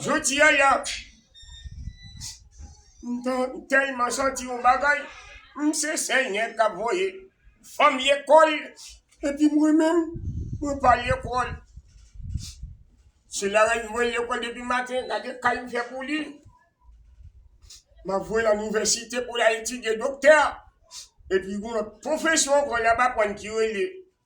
Jodi a ya, m tèlman santi yon bagay, m se Senyè k ap voye fanm lekòl epi mwen menm mwen pa lekòl. Se Larèn m voye lekòl depi maten, gade kal m fè pou li. M ap voye l an inivèsite pou l al etidye doktè epi gen yon lòt pwofesyon ankò l ap aprann ki rele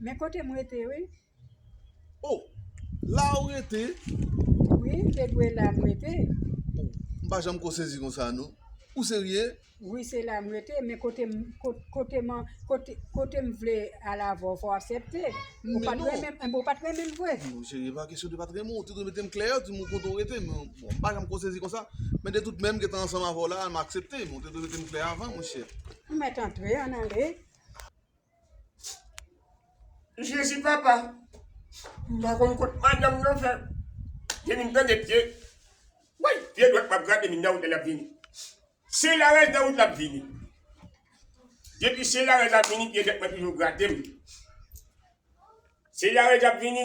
Men kote m rete wi. Oh la ou rete? Wi m te dwe la m rete. M pa janm ko sezi konsa non. Ou serye? Wi se la m rete men kote m kote m kote m vle al avè w fò w aksepte. Ou pa t renmen m ou pa t renmen m vre? Non cheri e pa kesyon de pa t renmen w. Ou te dwe mete m klè ou di m kote ou rete men bon m pa janm ko sezi konsa. Men de tout menm gen tan ansanm avè w la a m aksepte men ou te dwe mete m klè avan monchè. Ou mèt antre an ale. Jezi papa m pa konn kot madanm nan fè te vin tande pye woy pye dwat map grate min nan wout la lap vini se larèn nan wout lap vini depi se larèn nan ap vini pye dwat mwen toujou gratem se larèn nan ap vini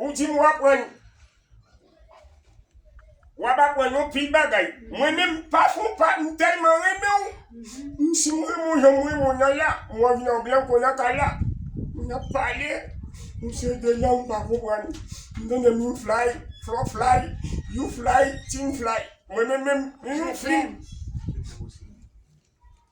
Ou di m w aprann. W ap aprann yon pil bagay. Mwen menm m pa fon pa m tèlman renmen w. M si m renmen w jan m renmen w nan la, m anvi nan blan kou nan kay la. N ap pale, m se de lang m pa konprann. M tande min flay, flò flay, you flay, tin flay. Mwen menm menm, m yon fim.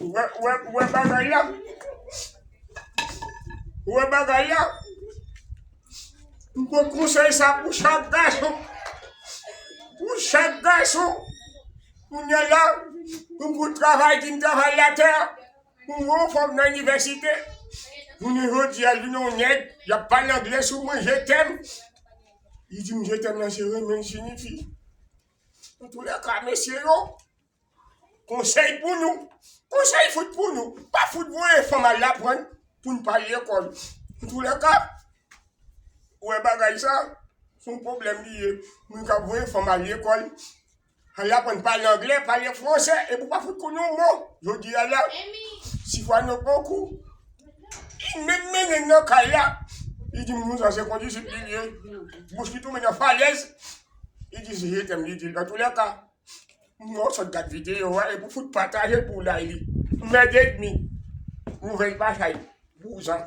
Ouwe bagay la. Ouwe bagay la. Mwen konsey sa pou chak gason. Pou chak gason. Mwen yon la. Mwen pou travay di m travay la te. Mwen yon fòm nan universite. Mwen yon jodi a di nou nèd. Ya pa nan gle sou mwen jetem. Yon di m jetem nan se remen sinifi. Mwen tou le ka mesye yo. Konsèy pou nou, konsèy fout pou nou, pa fout voye fanm al aprann pou n pa al lekòl. Antoulèka, ou wè bagay sa, se yon pwoblèm li ye. Moun k ap voye fanm al lekòl, al aprann pale angle, pale franse, epi ou pa fout konn yon mo. Jodi a la, si fwa nou pran kou, li menm mennen n nan kay la, li di m moun sa a se kondizib li ye, bouch li tonbe nan falèz, li di se je tèm li di l. Antoulèka. Moun an sot gad video a epi w fout pataje l pou w lay li. Mèd edmi. Nouvèl batay. Vouzan.